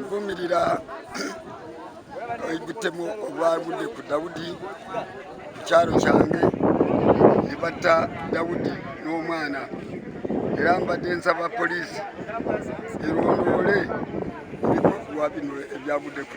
nvumirira ebitemu obwagudde ku dawudi ku kyalo kyange ne batta dawudi n'omwana era mbadde nsaba poliisi erondole ebikolwa bino ebyagudde ku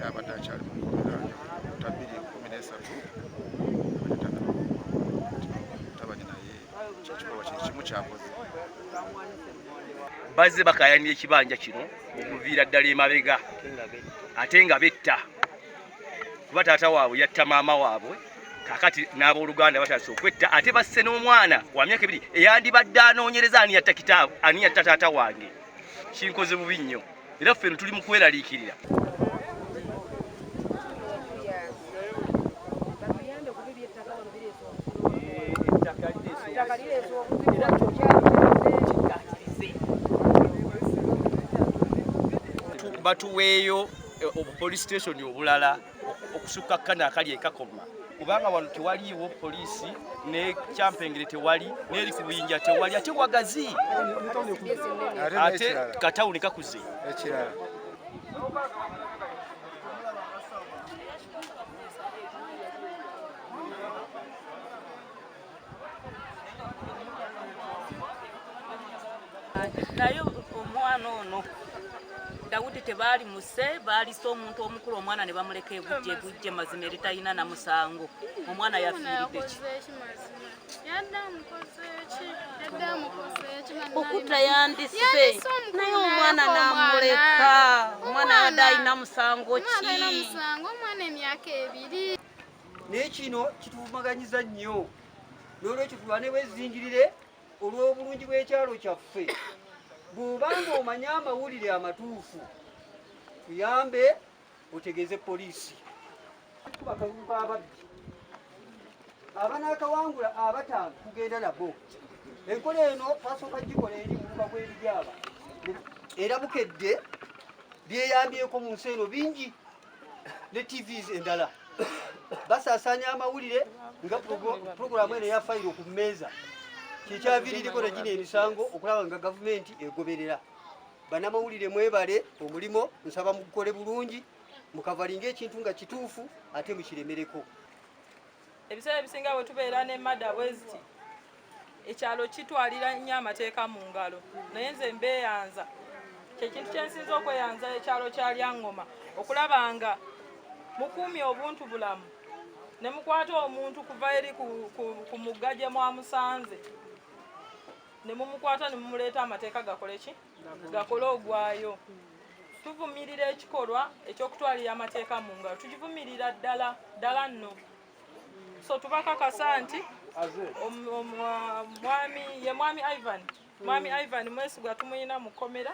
yabadde akyali mu nkomera ta bbiri kumi n'esatu tabanye naye kyekikolwa kye kimu kyakoze bazze bakayanira ekibanja kino okuviira ddala emabega ate nga betta kuba taata waabwe yatta maama waabwe kakati n'abooluganda batandise okwetta ate basse n'omwana wa myaka ebiri eyandibadde anoonyereza ani yatta kitaabu ani yatta taata wange kinkoze bubi nnyo era ffe tuli mu kweraliikirira batuweeyo eh, obupolisi station obulala okusukka kano akali ekakoma kubanga wano tewaliiwo poliisi ne kyampengere tewali neri ku buyinja tewali ate wagazi ate katawuni kakuze ekirala naye omwana ono dawudi tebaali muse baalisa omuntu omukulu omwana ne bamuleka egujja egujja mazima eritalina na musango omwana yafiiridde ki okuta yandise naye omwana namuleka omwana yadde alina musango ki naye kino kituvumaganyiza nnyo n'olwekyo tulwane bwezingirire olw'obulungi bw'ekyalo kyaffe bw'oba ng'omanye amawulire amatuufu tuyambe otegeeze poliisi bakalulu b'ababbi abanaakawangula abataano kugenda nabo enkola eno twasooka gikola eri muluba gw'ebijaaba era bukedde byeyambyeko mu nsi eno bingi ne TVs endala basasanya amawulire nga pulogulaamu eno ya fayiro ku mmeeza kyekyaviiririko na gino emisango okulaba nga gavumenti egoberera banamawulire mwebale omulimo nsaba mugukole bulungi mukavalinga ekintu nga kituufu ate mukiremereko ebiseera ebisinga bwe tubeera ne mada bweziti ekyalo kitwalira nnyo amateeka mu ngalo naye nze mbeeyanza kyekintu kyensinza okweyanza ekyalo kya lyangoma okulaba nga mukuumye obuntu bulamu ne mukwata omuntu kuva eri ku mugga gye mwamusanze ne mumukwata ne mumuleeta amateeka gakole ki gakole ogwayo tuvumirira ekikolwa ekyokutwalira amateeka mu ngalo tugivumirira ddala ddala nno so tubakakasa nti mwami ye mwami ivan mwami hmm. ivan mwesigwa tumuyina mu kkomera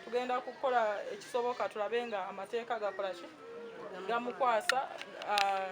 tugenda kukola ekisoboka tulabe nga amateeka gakolaki gamukwasa ah,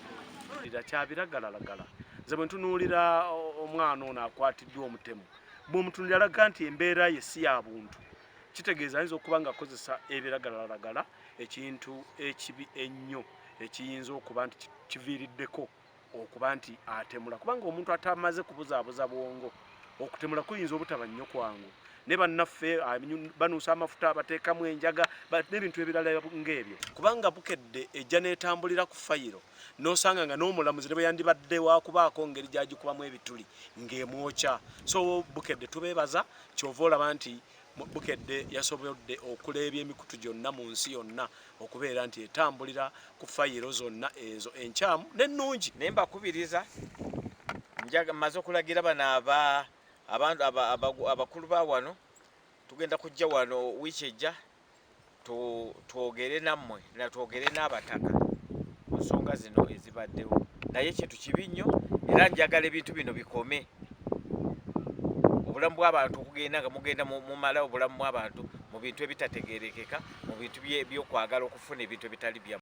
kyabiragalalagala nze bwe ntunuulira omwana ono akwatiddwa omutemu bw'omutunulira alaga nti embeera ye si ya buntu kitegeeza ayinza okuba nga akozesa ebiragalalagala ekintu ekibi ennyo ekiyinza okuba nti kiviiriddeko okuba nti atemula kubanga omuntu atamaze kubuzaabuza bwongo okutemula kuyinza obutaba nnyo kwangu ne bannaffe banuusa amafuta bateekamu enjaga n'ebintu ebirala ng'ebyo kubanga bukedde ejja n'etambulira ku fayiro n'osanga nga n'omulamuzi ne bwe yandibadde wakubaako ngeri gyagikubamu ebituli ng'emwokya so bukedde tubeebaza kyova olaba nti Bukedde yasobodde okuleebya emikutu gyonna mu nsi yonna okubeera nti etambulira ku fayiro zonna ezo enkyamu n'ennungi. Naye mbakubiriza maze okulagira bano abantu abakulu ba wano tugenda kujja wano wiiki ejja twogere nammwe na twogere n'abataka ku nsonga zino ezibaddewo naye kintu kibi nnyo era njagala ebintu bino bikome obulamu bw'abantu okugenda nga mugenda mumala obulamu bw'abantu mu bintu ebitategerekeka mu bintu byokwagala okufuna ebintu ebitali bya